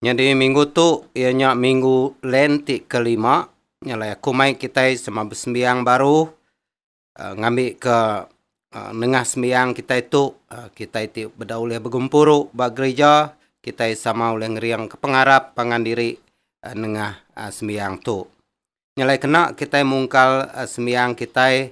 Nyadi minggu tu iya nya minggu Lent ti kelima, nya alai aku mai kitai sema besembiang baru ngambika nengah sembiang kitai tu kitai ti beda ulih begempuru ba gerija kitai sama ulih ngeringka pengarap pangan diri nengah sembiang tu. Nya alai kena kitai mungkal sembiang kitai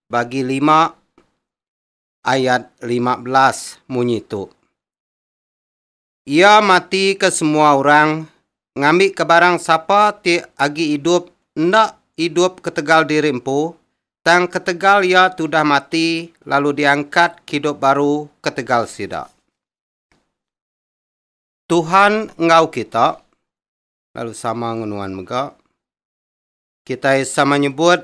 bagi lima ayat lima belas munyi tu. Iya mati ke semua orang ngambi ke barang sapa ti agi idup enda idup ketegal diri empu tang ketegal iya tudah mati lalu diangkat ke idup baru ketegal sida. Tuhan enggau kita lalu sama ngan nuan mega. Kitai sama nyebut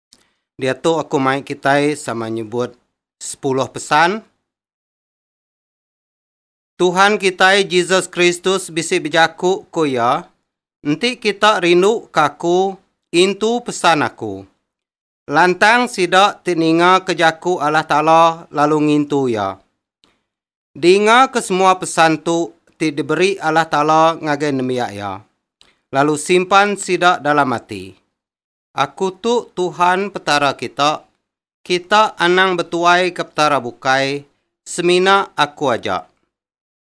Diatu aku mai kitai sama nyebut Sepuluh Pesan. Tuhan kitai Jesus Kristus bisi bejaku ku iya, Enti kita rinduka aku, intu pesan aku. Lantang sida ti ningaka jaku Allah Taala lalu ngintu iya. Dingaka semua pesan tu ti diberi Allah Taala ngagai nembiak iya, lalu simpan sida dalam ati. Aku tu Tuhan Petara kita, kita anang betuai ke petara bukai, semina aku aja.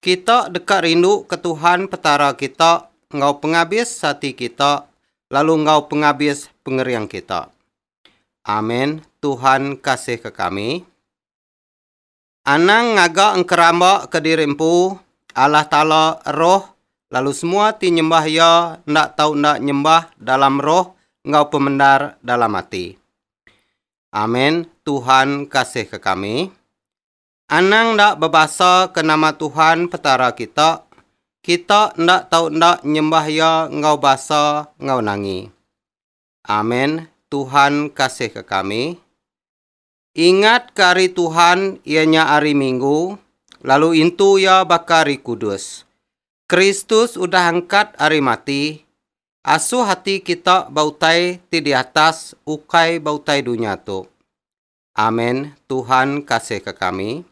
Kita deka rindu ke Tuhan Petara kita enggau pengabis ati kita lalu enggau pengabis pengering kita. Amen, Tuhan kasihka kami. Anang ngaga engkeramba ke diri empu, Allah Taala Roh, lalu semua ti nyembah Iya enda tau enda nyembah dalam roh enggau pemendar dalam ati. Amen Tuhan kasihka kami. Anang enda bebasa ke nama Tuhan Petara kita, kita enda tau enda nyembah Iya enggau basa enggau nangi. Amen Tuhan kasihka kami. Ingatka ari Tuhan iya nya ari Minggu, lalu intu iya baka ari kudus. Kristus udah angkat ari mati, asuh ati kita ba utai ti di atas ukai ba utai dunya tu. Amen, Tuhan kasihka kami.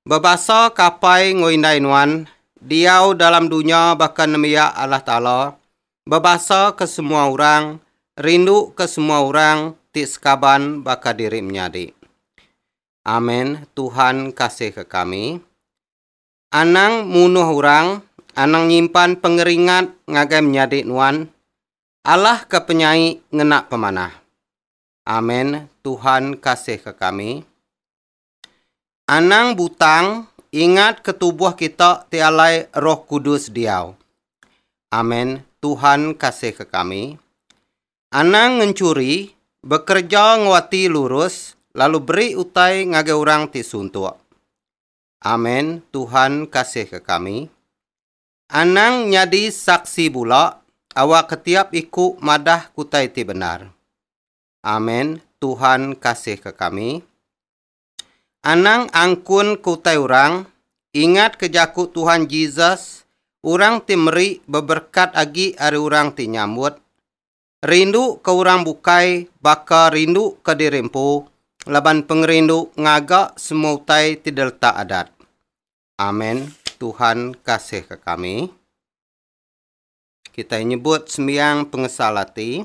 Bebasa ke apai enggau indai nuan, diau dalam dunya baka nembiak Allah Taala, bebasa ke semua orang, rindu ke semua orang ti sekaban baka diri menyadi. Amen, Tuhan kasih ke kami. Anang munuh orang, anang nyimpan pengeringat ngagai menyadi nuan, Allah ke penyai ngena pemanah. Amen, Tuhan kasih ke kami. Anang butang ingat ke tubuh kita ti alai Roh Kudus diau. Amen Tuhan kasih ke kami. Anang ngenchuri, bekereja enggau ati lurus lalu beri utai ngagai orang ti suntuk. Amen Tuhan kasih ke kami. Anang nyadi saksi bula awakka tiap iku madah kutai ti bendar. Amen Tuhan kasihka kami. Anang angkun ke utai orang, ingatka jaku Tuhan Jesus, Orang ti meri beberekat agi ari orang ti nyambut. Rinduka orang bukai baka rinduka diri empu laban pengerindu ngaga semua utai ti diletak Adat. Amen Tuhan kasihka kami. Kitai nyebut sembiang pengesal ati.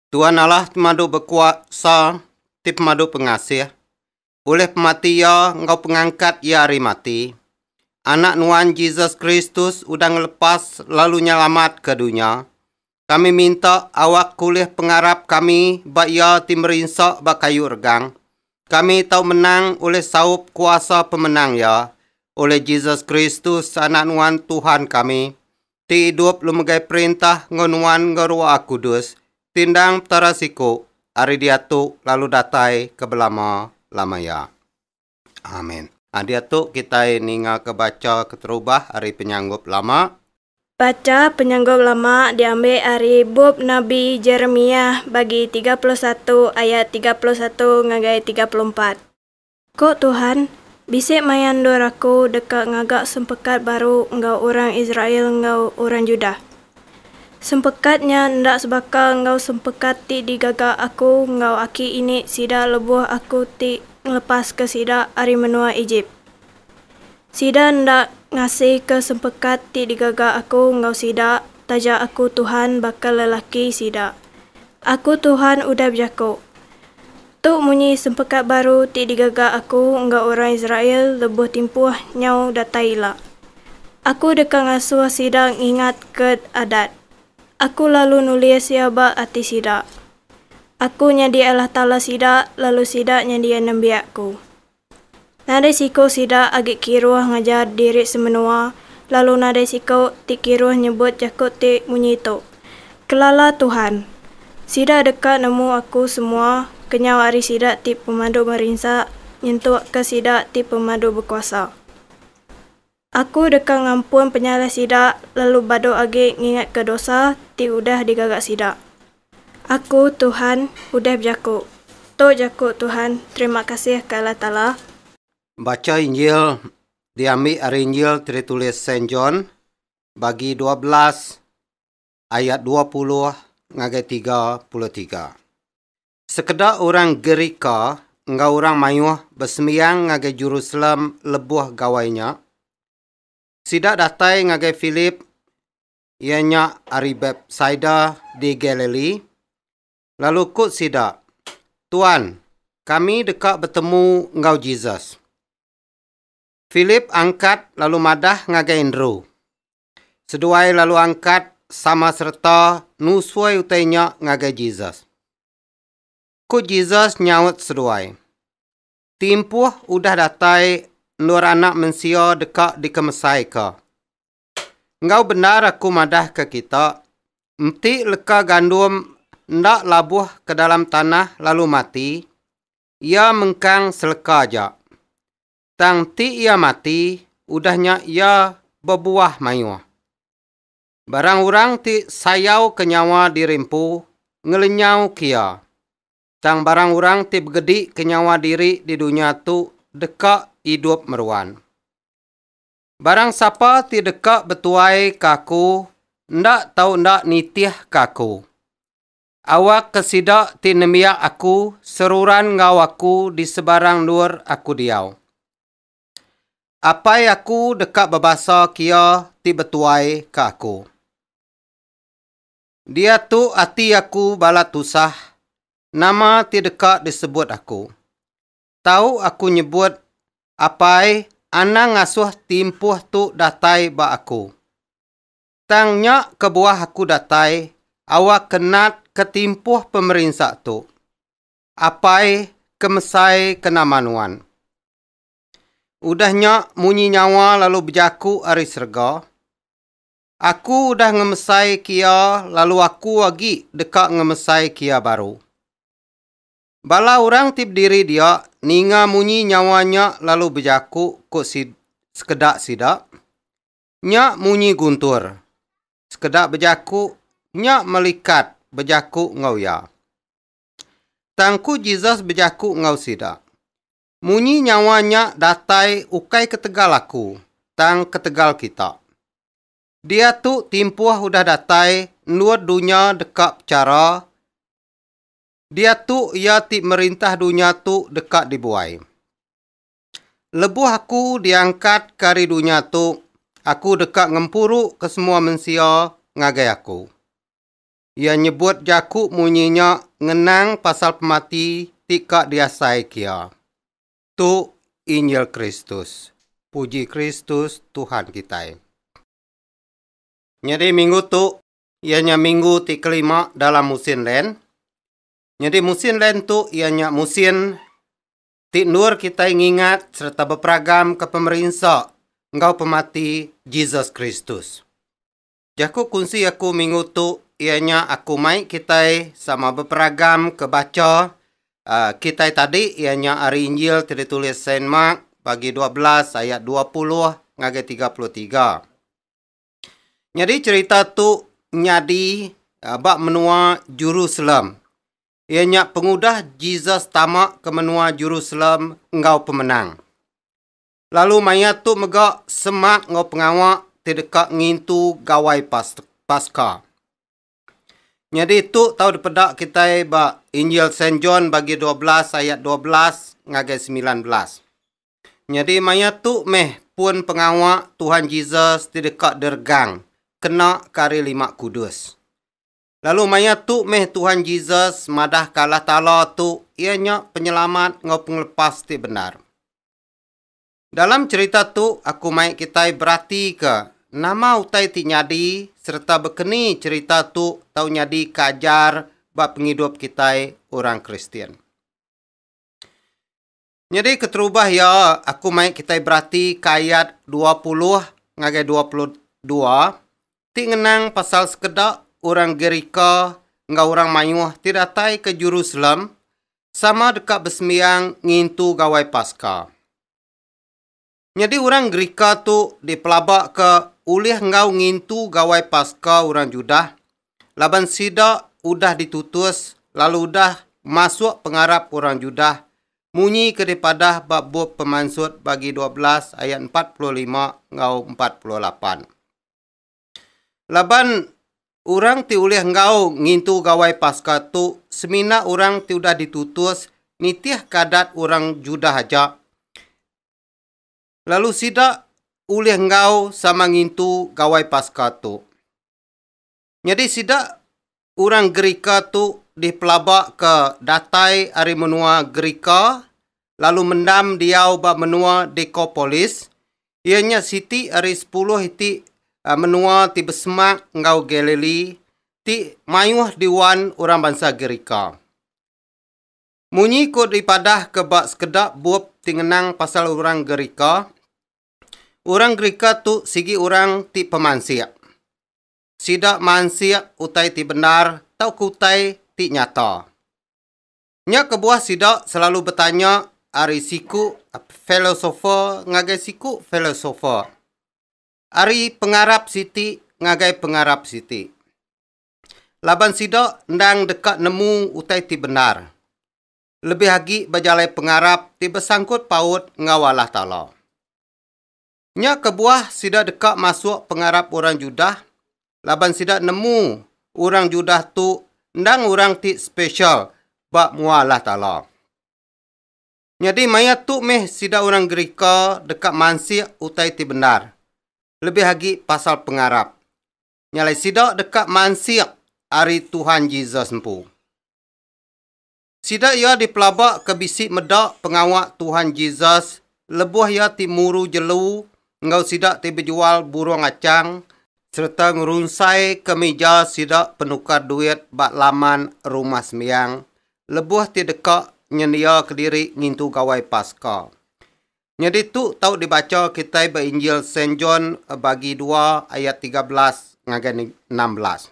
Tuan Allah temadu bekuasa ti pemadu pengasih. Ulih pemati Iya enggau pengangkat Iya ari mati, Anak Nuan Jesus Kristus udah ngelepas lalu nyelamatka dunya. Kami minta awak kulih pengarap kami ba Iya ti merinsa ba kayu regang. Kami tau menang ulih saup kuasa pemenang Iya, ulih Jesus Kristus, Anak Nuan Tuhan kami. ti idup lu megai perintah enggau nuan enggau Ruah Kudus tindang Petara siku ari diatu lalu datai ke belama lama iya. Amin. A Diatu kitai ningaka bacha keterubah ari Penyanggup Lama. Bacha Penyanggup Lama diambi ari bup Nabi Jeremiah bagi tiga puluh satu ayat tiga puluh satu ngagai tiga puluh empat. Ko Tuhan, Bisi maya endur Aku deka ngaga sempekat baru enggau orang Israel enggau orang Judah. Sempekat nya enda sebaka enggau sempekat ti digaga Aku enggau aki ini sida lebuh Aku ti ngelepaska sida ari menua Ejip. Sida enda ngasika sempekat ti digaga Aku enggau sida, taja Aku Tuhan baka lelaki sida. Aku Tuhan udah bejako, Tu munyi sempekat baru ti digaga Aku enggau orang Israel lebuh timpuh nyau datai ila. Aku deka ngasuh sida ngingatka Adat. Aku lalu nulis iya ba ati sida. Aku nyadi Allah Taala sida, lalu sida nyadi nembiak-Ku. Nadai siku sida agi kiruh ngajar diri semenua lalu nadai siku ti kiruh nyebut jaku ti munyi tu, Kelala Tuhan. Sida deka nemu aku semua kenyau ari sida ti pemadu merinsa nyentukka sida ti pemadu bekuasa. Aku deka ngampun penyalah sida lalu badu agi ngingatka dosa ti udah digaga sida. Aku, Tuhan, udah bejaku. Tu jaku Tuhan, terima kasih ke Allah Taala. Bacha Injil diambi ari Injil ti ditulis Saint John bagi dua belas ayat dua puluh ngagai tiga puluh tiga. Sekeda orang Gerika enggau orang mayuh besembiang ngagai Jerusalem lebuh gawai nya. Sida datai ngagai Philip, iya nya ari Betsaida di Galili, lalu ku sida, Tuan, kami deka betemu enggau Jesus. Philip angkat lalu madah ngagai Andrew. Seduai lalu angkat sama sereta nusui utai nya ngagai Jesus. Ku Jesus nyaut seduai, Timpuh udah datai endur Anak Mensia deka dikemesaika. Enggau bendar aku madahka kita, enti leka gandum enda labuh ke dalam tanah lalu mati, iya mengkang seleka aja. Tang ti iya mati, udah nya iya bebuah mayuh. Barang orang ti sayauka nyawa diri empu ngelenyauka iya, tang barang orang ti begedika nyawa diri di dunya tu deka idup meruan. Barang sapa ti deka betuaika Aku enda tau enda nitihka Aku, Awakka sida ti nembiak Aku seruran enggau Aku di sebarang endur Aku diau. Apai Aku deka bebasa kia ti betuai ke Aku. Diatu ati Aku balat tusah, nama ti deka disebut Aku. Tau Aku nyebut, Apai, anang ngasuh ti empuh tu datai ba Aku. Tang nya kebuah aku datai awak ke nat ke timpuh pemerinsa tu. Apai ke mesai ke nama nuan. Udah nya munyi nyawa lalu bejaku ari serega, Aku udah ngemesai ke iya lalu aku agi deka ngemesai ke iya baru. Bala orang ti bediri dia ninga munyi nyawa nya lalu bejaku, ku sekeda sida. Nya munyi Guntur. Sekeda bejaku nya melikat bejaku enggau iya. Tang ku Jesus bejaku enggau sida, Munyi nyawa nya datai ukai ketegal aku, tang ketegal kita. Diatu timpuh udah datai endur dunya deka pechara diatu iya ti merintah dunya tu deka dibuai. Lebuh aku diangkatka ari dunya tu, aku deka ngempuruka semua mensia ngagai aku. Iya nyebut jaku munyi nya ngenang pasal pemati ti ka diasaika iya. Tu Injil Kristus. Puji Kristus, Tuhan kitai! Nyadi minggu tu iya nya minggu ti kelima dalam musin len. Nyadi musin len tu iya nya musin ti endur kitai ngingat sereta beperagamka pemerinsa enggau pemati Jesus Kristus. Jaku kunsi aku minggu tu iya nya aku mai kitai sama beperagamka bacha uh, kitai tadi iya nya ari Injil ti ditulis Saint Mark bagi 12 ayat 20 ngagai 33. Nyadi cerita tu nyadi uh, ba menua Jerusalem Iya nya pengudah Jesus tama ke menua Jerusalem enggau pemenang. Lalu maya tu mega semak enggau pengawa ti deka ngintu Gawai Paska. Nyadi tu tau dipeda kitai ba Injil Saint John bagi 12 ayat 12 ngagai 19. Nyadi maya tu meh pun pengawa Tuhan Jesus ti deka diregang kena ke hari Lima Kudus. Lalu maya tu meh Tuhan Jesus madahka Allah Taala tu iya nya Penyelamat enggau Pengelepas ti bendar. Dalam cherita tu, aku mai kitai beratika nama utai ti nyadi sereta bekeni cherita tu tau nyadika ajar ba pengidup kitai orang Kristian. Nyadi keterubah iya, aku mai kitai beratika ayat dua puluh ngagai dua puluh dua ti ngenang pasal sekeda orang Gerika enggau orang mayuh ti datai ke Jerusalem sama deka besembiang ngintu Gawai Paska. Nyadi orang Gerika tu dipelabaka ulih enggau ngintu Gawai Paska orang Judah laban sida udah ditutus lalu udah masuk pengarap orang Judah munyi ke dipadah ba bup Pemansut bagi dua belas ayat empat puluh lima enggau empat puluh lapan. Laban orang ti ulih enggau ngintu Gawai Paska tu semina orang ti udah ditutus nitihka adat orang Judah aja, lalu sida ulih enggau sama ngintu Gawai Paska tu. Nyadi sida Orang Gerika tu dipelaba ke datai ari menua Gerika lalu mendam diau ba menua Dekopolis, iya nya siti ari sepuluh iti menua ti besemak enggau Galili ti mayuh diwan orang bansa Gerika. Munyi ku dipadahka ba sekeda bup ti ngenang pasal orang Gerika, orang Gerika tu sigi orang ti pemansik. sida mansik utai ti bendar tauka utai ti nyata. Nya kebuah sida selalu betanya ari siku filosofer ngagai siku filosofer, ari pengarap siti ngagai pengarap siti, laban sida endang deka nemu utai ti bendar, lebih agi bejalai pengarap ti besangkut paut enggau Allah Taala. Nya kebuah sida deka masuk pengarap orang Judah laban sida nemu orang Judah tu endang orang ti spesial ba mua Allah Taala. Nyadi maya tu meh sida orang Gerika deka mansik utai ti bendar, lebih agi pasal pengarap. Nya alai sida deka mansik ari Tuhan Jesus empu. Sida iya dipelabaka bisi meda pengawa Tuhan Jesus lebuh iya ti muru jelu enggau sida ti bejual burung achang sereta ngerunsaika mija sida penukar duit ba laman Rumah Sembiang lebuh ti deka nyendiaka diri ngintu Gawai Paska. Nyadi tu tau dibacha kitai ba Injil Saint John bagi dua ayat tiga belas ngagai enam belas.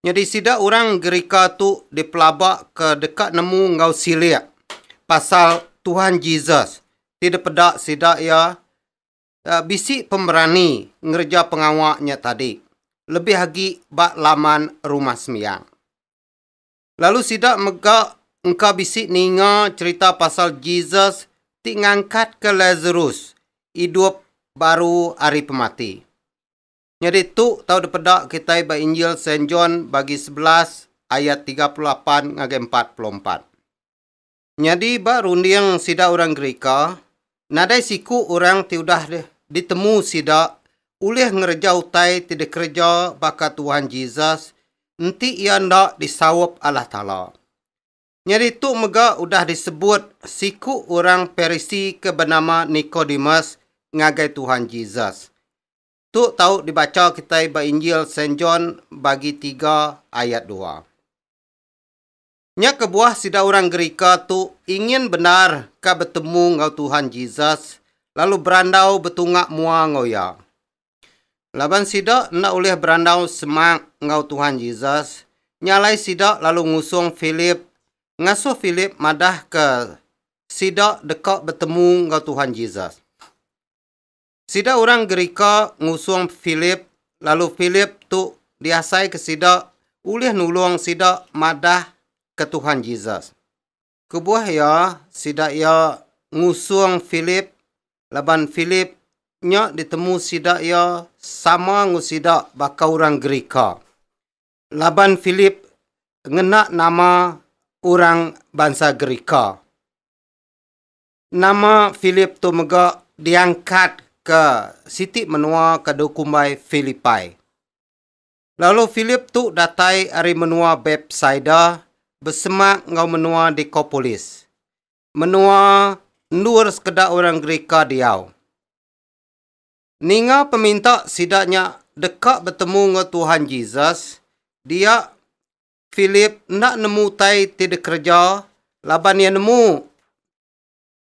Nyadi sida orang Gerika tu dipelaba ke deka nemu enggau silik pasal Tuhan Jesus ti dipeda sida iya eh, bisi pemerani ngereja pengawa nya tadi, lebih agi ba laman Rumah Sembiang. Lalu sida mega engka bisi ninga cherita pasal Jesus ti ngangkatka Lazarus idup baru ari pemati. Nyadi tu tau dipeda kitai ba Injil Saint John bagi sebelas ayat tiga puluh lapan ngagai empat puluh empat. Nyadi ba runding sida orang Gerika, nadai siku orang ti udah ditemu sida ulih ngereja utai ti dikereja baka Tuhan Jesus enti iya enda disaup Allah Taala. Nyadi tu mega udah disebut siku orang Parisi ke benama Nikodemus ngagai Tuhan Jesus. Tu tau dibacha kitai ba Injil Saint John bagi tiga ayat dua. Nya kebuah sida orang Gerika tu ingin bendar ka betemu enggau Tuhan Jesus lalu berandau betunga mua enggau Iya. Laban sida enda ulih berandau semak enggau Tuhan Jesus, nya alai sida lalu ngusung Philip ngasuh Philip madahka sida deka betemu enggau Tuhan Jesus. Sida orang Gerika ngusung Philip, lalu Philip tu diasaika sida ulih nulung sida madah ke Tuhan Jesus. Kebuah iya, sida iya ngusung Philip laban Philip nya ditemu sida iya sama enggau sida baka orang Gerika. Laban Philip ngena nama orang bansa Gerika. Nama Philip tu mega diangkat ke siti menua ke dikumbai Philippi? Lalu Philip tu datai ari menua Bethsaida besemak enggau menua Decapolis, menua endur sekeda orang Gerika diau. Ninga peminta sida nya deka betemu enggau Tuhan Jesus, dia Philip enda nemu utai ti dikereja laban iya nemu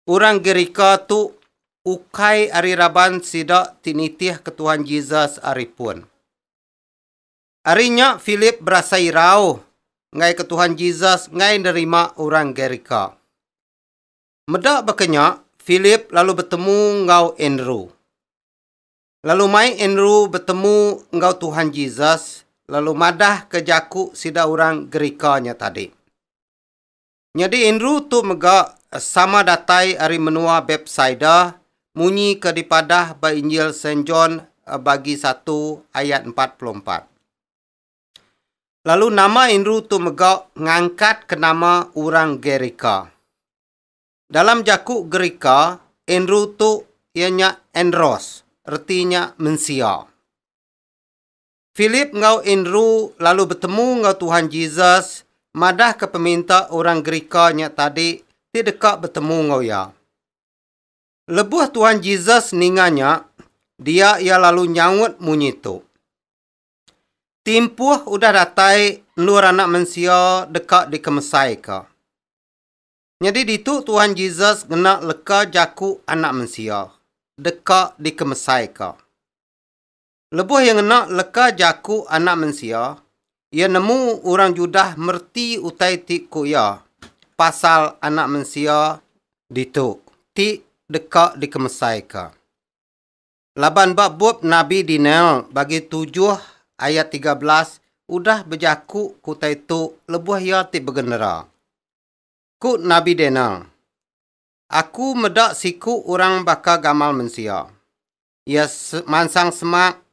orang Gerika tu ukai ari raban sida ti nitihka Tuhan Jesus ari pun. Ari nya Philip berasai irau enggaika Tuhan Jesus enggai nerima orang Gerika. Meda baka nya, Philip lalu betemu enggau Andrew. Lalu mai Andrew betemu enggau Tuhan Jesus lalu madah ke jaku sida orang Gerika nya tadi. Nyadi Andrew tu mega sama datai ari menua Bethsaida munyi ke dipadah ba Injil Saint John eh, bagi 1 ayat 44. Lalu nama Andrew tu mega ngangkat ke nama orang Gerika. Dalam jaku Gerika, Andrew tu iya nya Andros, reti nya mensia. Philip enggau Andrew lalu betemu enggau Tuhan Jesus madahka peminta orang Gerika nya tadi ti deka betemu enggau iya. Lebuh Tuhan Jesus ninga nya, dia iya lalu nyaut munyi tu. Timpuh udah datai Endur Anak Mensia deka dikemesaika. Nyadi ditu Tuhan Jesus ngena leka jaku Anak Mensia deka dikemesaika. Lebuh iya ngena leka jaku Anak Mensia, iya nemu orang Judah mereti utai ti ku iya pasal Anak Mensia ditu ti deka dikemesaika. Laban ba bup nabi Daniel bagi tujuh ayat tiga belas udah bejaku ku utai tu lebuh iya ti begenera. Ku Nabi Daniel, Aku meda siku orang baka gamal mensia. Iya mansang semak,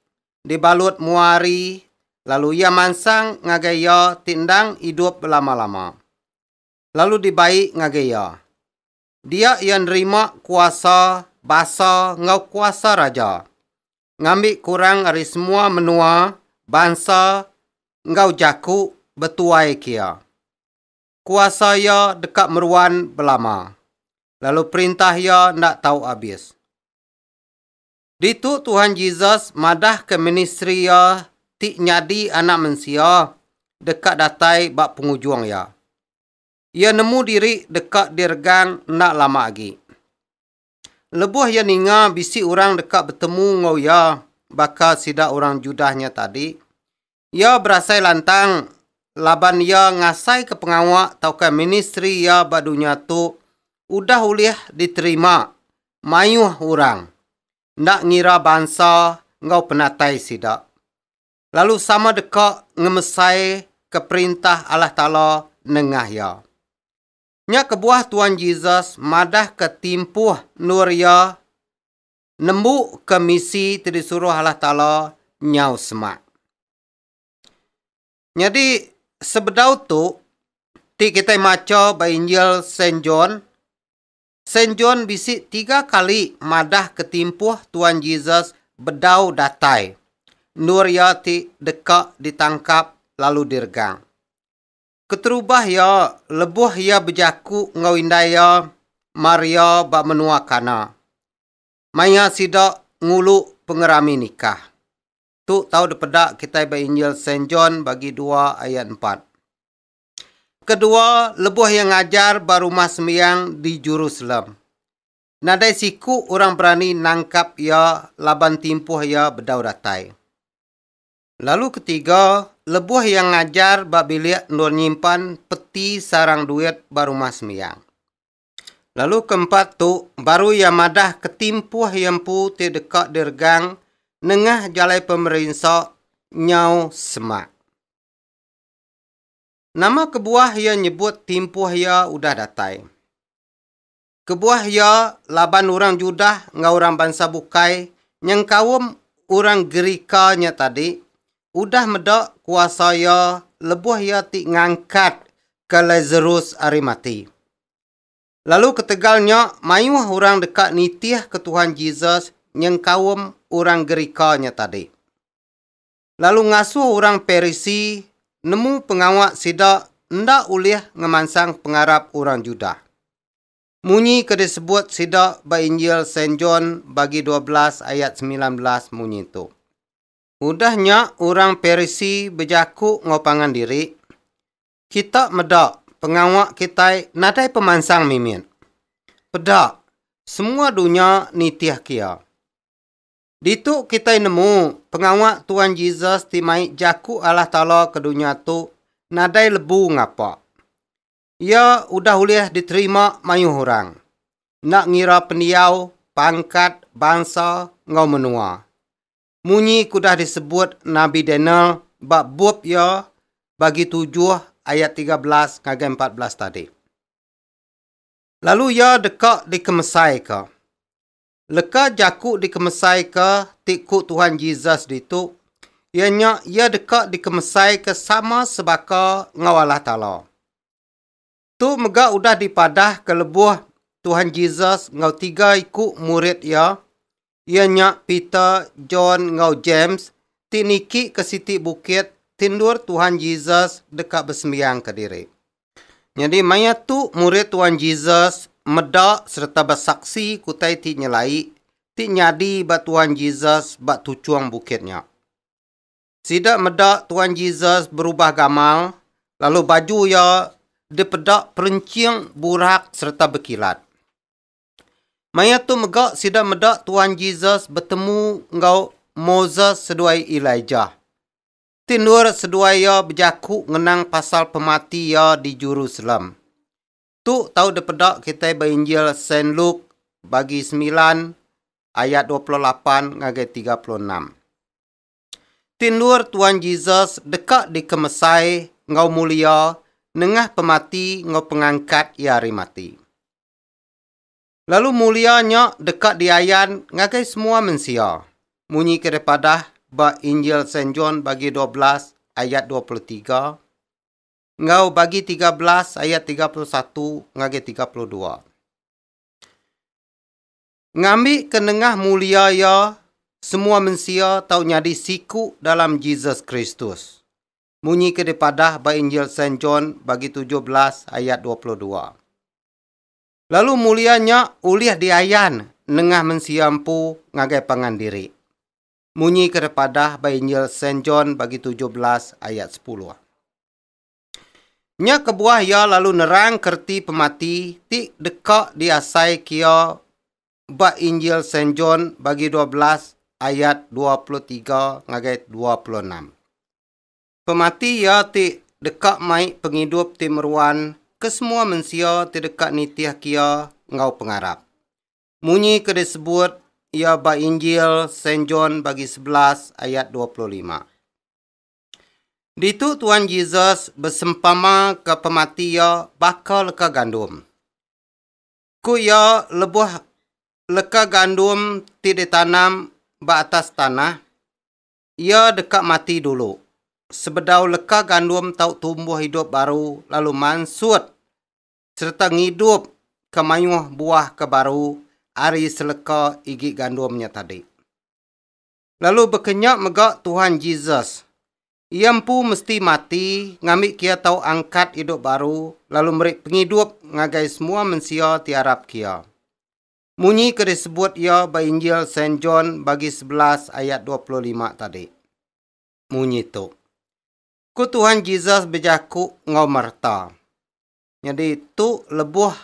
dibalut mua hari, lalu iya mansang ngagai iya ti endang idup belama-lama, lalu dibai ngagai iya. Dia iya nerima kuasa, basa, enggau kuasa raja, ngambi kurang ari semua menua, bansa, enggau jaku betuai ke iya. Kuasa Iya deka meruan belama, lalu perintah Iya enda tau abis. Ditu Tuhan Jesus madahka ministri Iya ti nyadi Anak Mensia deka datai ba pengujung iya. Iya nemu diri deka diregang enda lama agi. Lebuh iya ninga bisi orang deka betemu enggau iya baka sida orang Judah nya tadi, iya berasai lantang laban iya ngasaika pengawa tauka ministri iya ba dunya tu udah ulih diterima mayuh orang, enda ngira bansa enggau penatai sida, lalu sama deka ngemesaika Perintah Allah Taala nengah iya. Nya kebuah Tuan Jesus madahka timpuh endur iya nembuka misi ti disuruh Allah Taala nyau semak. Nyadi, sebedau tu ti kitai macha ba Injil Saint John, Saint John bisi tiga kali madahka timpuh Tuan Jesus bedau datai endur iya ti deka ditangkap lalu diregang. Keterubah iya, lebuh iya bejaku enggau indai iya Maria ba menua Kana, maya sida ngulu pengerami nikah. Tu tau dipeda kitai ba Injil Saint John bagi dua ayat empat. Kedua, lebuh iya ngajar ba Rumah Sembiang di Jerusalem, nadai siku orang berani nangkap iya laban timpuh iya bedau datai. Lalu ketiga, lebuh iya ngajar ba bilik endur nyimpan peti sarang duit ba Rumah Sembiang. Lalu keempat tu, baru iya madah ketimpuh iya empu ti deka diregang nengah jalai pemerinsa nyau semak. Nama kebuah iya nyebut timpuh iya udah datai? Kebuah iya, laban orang Judah enggau orang bansa bukai nyengkaum orang Gerika nya tadi udah meda kuasa iya lebuh iya ti ngangkatka Lasarus ari mati. Lalu ketegal nya, mayuh orang deka nitihka Tuhan Jesus nyengkaum orang Gerika nya tadi. lalu ngasuh orang Parisi nemu pengawa sida enda ulih ngemansang pengarap orang Judah. Munyi ke disebut sida ba Injil Saint John bagi dua belas ayat semilan belas munyi tu. Udah nya orang Parisi bejaku enggau pangan diri, Kita meda pengawa kitai nadai pemansang mimit. Peda, semua dunya nitihka iya. Ditu kitai nemu, pengawa Tuan Jesus ti mai jaku Allah Taala ke dunya tu nadai lebu ngapa. Iya udah ulih diterima mayuh orang, enda ngira pendiau, pangkat, bansa, enggau menua. Munyi ke udah disebut Nabi Daniel ba bup iya bagi tujuh ayat tiga belas ngagai empat belas tadi. Lalu iya deka dikemesaika. Leka jaku dikemesaika ti ku Tuhan Jesus ditu, iya nya iya deka dikemesaika sama sebaka enggau Allah Taala. Tu mega udah dipadahka lebuh Tuhan Jesus enggau tiga iku murid iya, iya nya Peter, John enggau James ti niki ke siti bukit ti endur Tuhan Jesus deka besembiangka diri. Nyadi maya tu murid Tuan Jesus meda sereta besaksi kutai ti nyelai ti nyadi ba Tuan Jesus ba tuchung bukit nya. Sida meda Tuan Jesus berubah gamal lalu baju iya dipeda perenching burak sereta bekilat. Maya tu mega sida meda Tuan Jesus betemu enggau Moses seduai Elijah. Ti endur seduai iya bejaku ngenang pasal pemati iya di Jerusalem. Tu tau dipeda kitai ba Injil Saint Luke bagi semilan ayat dua puluh lapan ngagai tiga puluh enam. Ti endur Tuan Jesus deka dikemesai enggau mulia nengah pemati enggau pengangkat iya ari mati. Lalu mulia nya deka diayan ngagai semua mensia, munyi ke dipadah ba Injil Saint John bagi dua belas ayat dua puluh tiga enggau bagi tiga belas ayat tiga puluh satu ngagai tiga puluh dua. Ngambi ke nengah mulia iya, semua mensia tau nyadi siku dalam Jesus Kristus, munyi ke dipadah ba Injil Saint John bagi tujuh belas ayat dua puluh dua. Lalu mulia nya ulih diayan nengah mensia empu ngagai pangan diri. Munyi ke tepadah ba Injil Saint John bagi tujuh belas ayat sepuluh. Nya kebuah iya lalu nerangka reti pemati ti deka diasaika iya ba Injil Saint John bagi dua belas ayat dua puluh tiga ngagai dua puluh enam. Pemati iya ti deka mai pengidup ti meruan ke semua mensia ti deka nitihka iya enggau pengarap. Munyi ke disebut iya ba Injil Saint John bagi sebelas ayat dua puluh lima. Ditu Tuan Jesus besempamaka pemati iya baka leka gandum. Ku iya lebuh leka gandum ti ditanam ba atas tanah, Iya deka mati dulu, sebedau leka gandum tau tumbuh idup baru lalu mansut sereta ngidup ke mayuh buah ke baru ari seleka igi gandum nya tadi. Lalu baka nya mega Tuhan Jesus. Iya empu mesti mati ngambika iya tau angkat idup baru lalu meri pengidup ngagai semua mensia ti arap ke iya. munyi ke disebut iya ba Injil Saint John bagi sebelas ayat dua puluh lima tadi. Munyi tu. Ku Tuhan Jesus bejaku enggau Marta. Nyadi tu lebuh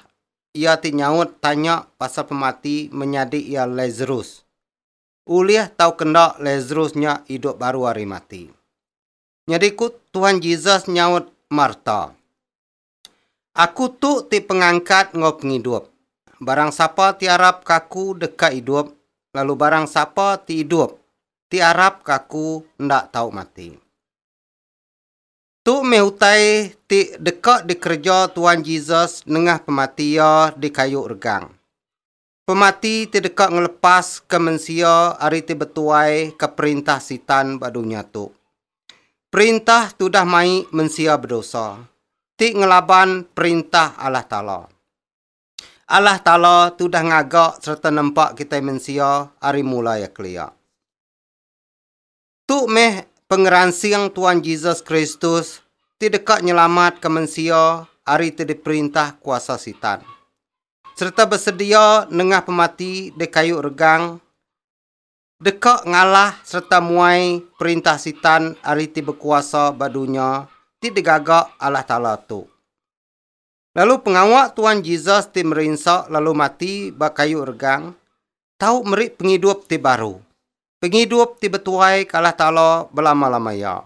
iya ti nyaut tanya pasal pemati menyadi iya Lazarus. Ulih tauka enda Lazarus nya idup baru ari mati. Nyadi ku Tuhan Jesus nyaut Marta. Aku tu ti pengangkat enggau pengidup. Barang sapa ti arap ka Aku deka idup, lalu barang sapa ti idup, ti arap ka Aku enda tau mati. Tu meh utai ti deka dikereja Tuan Jesus nengah pemati Iya di kayu regang. Pemati ti deka ngelepaska mensia ari ti betuai ke perintah Sitan ba dunya tu. Perintah ti udah mai mensia bedosa, ti ngelaban Perintah Allah Taala. Allah Taala ti udah ngaga sereta nempa kitai mensia ari mula iya kelia. Tu meh pengeransing Tuan Jesus Kristus ti deka nyelamatka mensia ari ti diperintah kuasa Sitan, sereta besedia nengah pemati di kayu regang deka ngalah sereta muai perintah Sitan ari ti bekuasa ba dunya ti digaga Allah Taala tu. Lalu pengawa Tuan Jesus ti merinsa lalu mati ba kayu regang tau meri pengidup ti baru, pengidup ti betuai ke Allah Taala belama-lama iya.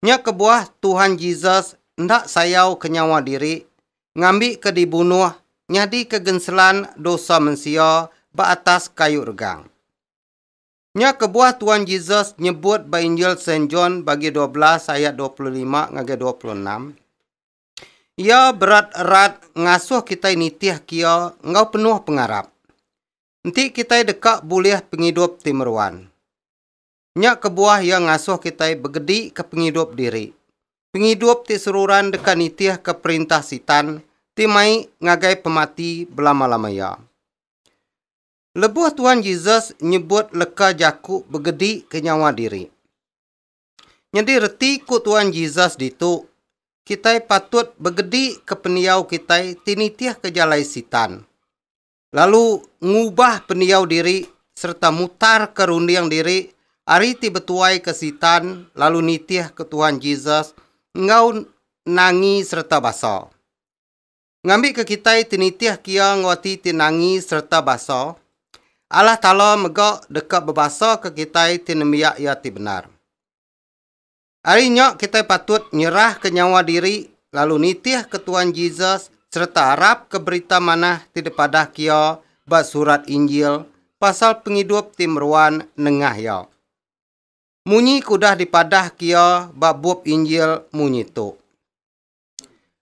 Nya kebuah Tuhan Jesus enda sayauka nyawa diri ngambika dibunuh nyadika genselan dosa mensia ba atas kayu regang. Nya kebuah Tuan Jesus nyebut ba Injil Saint John bagi dua belas ayat dua puluh lima ngagai dua puluh enam, Iya berat erat ngasuh kitai nitih kia enggau penuh pengarap. Enti kitai deka bulih pengidup ti meruan. Nya kebuah iya ngasuh kitai begedika pengidup diri, pengidup ti seruran deka nitihka perintah Sitan ti mai ngagai pemati belama-lama iya. Lebuh Tuhan Jesus nyebut leka jaku begedika nyawa diri, Nyadi reti ku Tuan Jesus ditu, kitai patut begedika pendiau kitai ti nitihka jalai Sitan, lalu ngubah pendiau diri sereta mutarka runding diri ari ti betuaika Sitan lalu nitihka Tuan Jesus enggau nangi sereta basa. ngambika kitai ti nitih ke iya enggau ati ti nangi sereta basa, Allah Taala mega deka bebasaka kitai ti nembiak Iya ti bendar. Ari nya kitai patut nyerahka nyawa diri lalu nitihka Tuan Jesus sereta arapka berita manah ti dipadahka iya ba surat Injil pasal pengidup ti meruan nengah iya. Munyi ke udah dipadahka iya ba bup Injil munyi tu.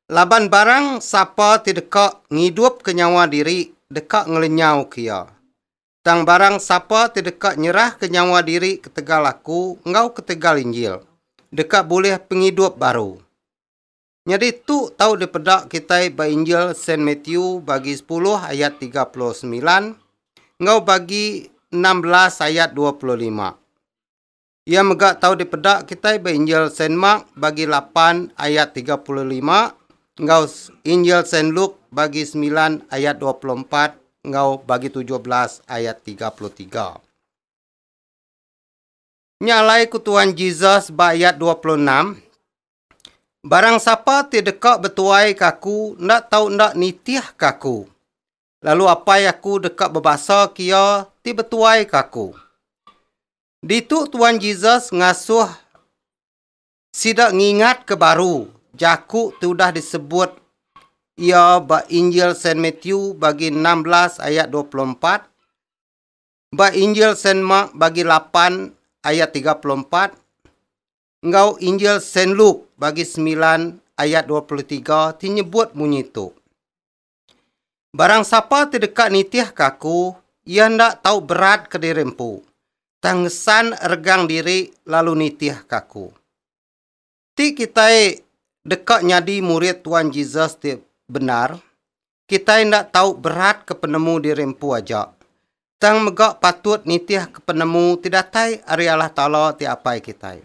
Laban barang sapa ti deka ngidupka nyawa diri deka ngelenyauka iya. Tang barang sapa ti deka nyerahka nyawa diri ketegal Aku enggau ketegal Injil, deka bulih pengidup baru. Nyadi tu tau dipeda kitai ba Injil Saint Matthew bagi sepuluh ayat tiga puluh semilan enggau bagi enam belas ayat dua puluh lima. Iya mega tau dipeda kitai ba Injil Saint Mark bagi lapan ayat tiga puluh lima enggau Injil Saint Luke bagi semilan ayat dua puluh empat enggau bagi tujuh belas ayat tiga puluh tiga. Nya alai ku Tuan Jesus ba ayat dua puluh enam, Barang sapa ti deka betuai ke aku enda tau enda nitih ke aku. Lalu Apai aku deka bebasa ke iya ti betuai ke aku. Ditu Tuan Jesus ngasuh sida ngingatka baru jaku ti udah disebut iya ba Injil Saint Matthew bagi enam belas ayat dua puluh empat, ba Injil Saint Mark bagi lapan ayat tiga puluh empat, enggau Injil Saint Luke bagi semilan ayat dua puluh tiga ti nyebut munyi tu. Barang sapa ti deka nitihka Aku, iya enda tau beratka diri empu, tang ngesan regang diri lalu nitihka Aku. Ti kitai deka nyadi murid Tuan Jesus ti bendar, kitai enda tau beratka penemu diri empu aja, tang mega patut nitihka penemu ti datai ari Allah Taala ti Apai kitai.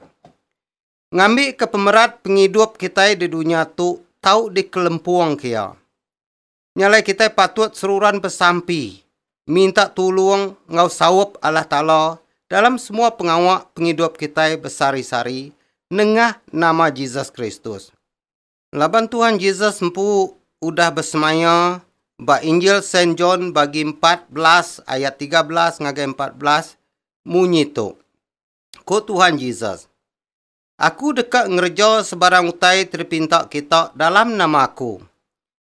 Ngambika pemerat pengidup kitai di dunya tu tau dikelempungka Iya, nya alai kitai patut seruran besampi minta tulung enggau saup Allah Taala dalam semua pengawa pengidup kitai besehari-sehari nengah nama Jesus Kristus. Laban Tuhan Jesus empu udah besemaya ba Injil Saint John bagi empat belas ayat tiga belas ngagai empat belas munyi tu, Ko Tuhan Jesus, Aku deka ngereja sebarang utai ti dipinta kita dalam nama Aku.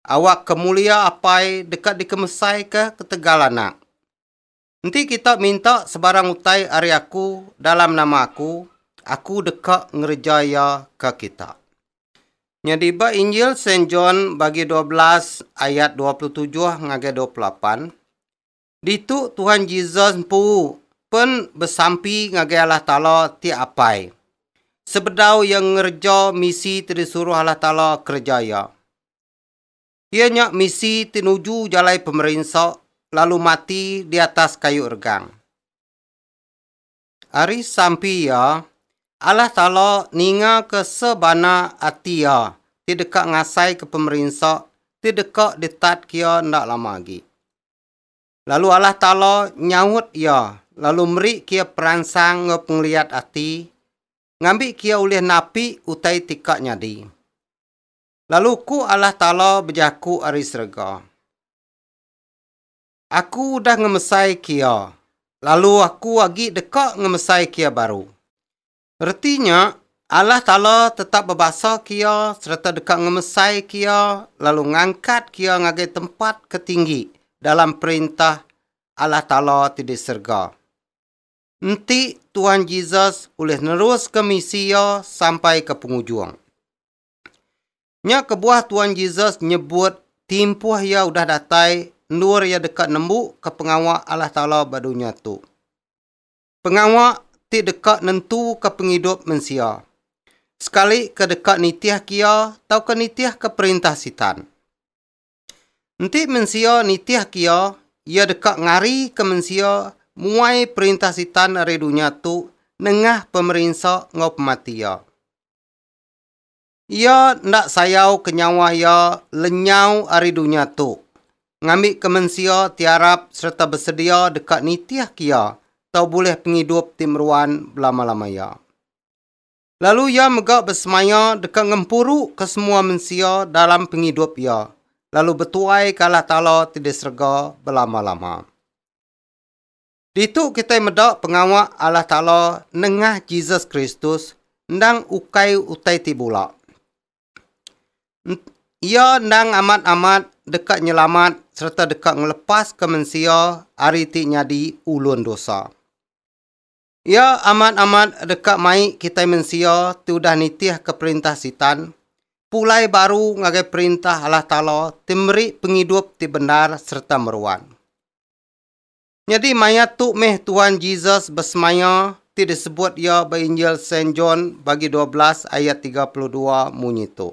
Awak kemulia Apai deka dikemesaika ketegal Anak. Enti kita minta sebarang utai ari Aku dalam nama Aku, Aku deka ngereja iya ke kita. Nyadi ba Injil Saint John bagi dua belas ayat dua puluh tujuh ngagai dua puluh lapan, Ditu Tuhan Jesus empu pen besampi ngagai Allah Taala ti apai. Sebedau iya ngereja misi ti disuruh Allah Taala kereja iya. Iya nya misi ti nuju jalai pemerinsa lalu mati di atas kayu regang. Ari sampi iya, Allah Taala ningaka sebana ati iya ti deka ngasaika pemerinsa ti deka ditatka iya enda lama agi. Lalu Allah Taala nyaut iya lalu meri kia peransang enggau pengeliat ati ngambi kia ulih napi utai ti ka nyadi. Lalu ku Allah Taala bejaku ari serega, Aku udah ngemesai kia, lalu Aku agi deka ngemesai kia baru. Reti nya, Allah Taala tetap bebasaka iya sereta deka ngemesaika iya lalu ngangkatka iya ngagai tempat ke tinggi dalam Perintah Allah Taala ti di serega. Enti Tuhan Jesus ulih neruska misi iya sampai ke pengujung. Nya kebuah Tuhan Jesus nyebut timpuh iya udah datai endur iya deka nembuka pengawa Allah Taala ba dunya tu. pengawa ti deka nentuka pengidup mensia, sekalika deka nitihka iya tauka nitihka perintah Sitan. Enti mensia nitihka iya, iya deka ngarika mensia muai perintah Sitan ari dunya tu nengah pemerinsa enggau pemati iya. Iya enda sayauka nyawa iya lenyau ari dunya tu, ngambika mensia ti arap sereta besedia deka nitihka iya tau bulih pengidup ti meruan belama-lama iya. Lalu iya mega besemaya deka ngempuruka semua mensia dalam pengidup iya lalu betuaika Allah Taala ti di serega belama-lama. Ditu kitai meda pengawa Allah Taala nengah Jesus Kristus endang ukai utai ti bula. Iya endang amat-amat deka nyelamat sereta deka ngelepaska mensia ari ti nyadi ulun dosa. Iya amat-amat deka mai kitai mensia ti udah nitihka perintah Sitan pulai baru ngagai perintah Allah Taala ti meri pengidup ti bendar sereta meruan. Nyadi maya tu meh Tuhan Jesus besemaya ti disebut iya ba Injil Saint John bagi dua belas ayat tiga puluh dua munyi tu,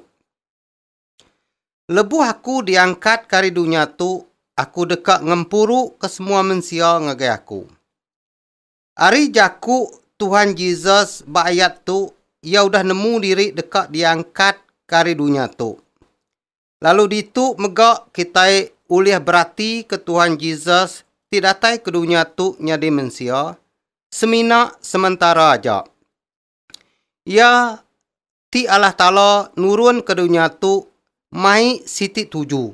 Lebuh aku diangkatka ari dunya tu, aku deka ngempuruka semua mensia ngagai aku. Ari jaku Tuhan Jesus ba ayat tu, iya udah nemu diri deka diangkatka ari dunya tu. Lalu ditu mega kitai ulih beratika Tuhan Jesus ti datai ke dunya tu nyadi mensia semina sementara aja. Iya ti Allah Taala nurun ke dunya tu mai siti tuju.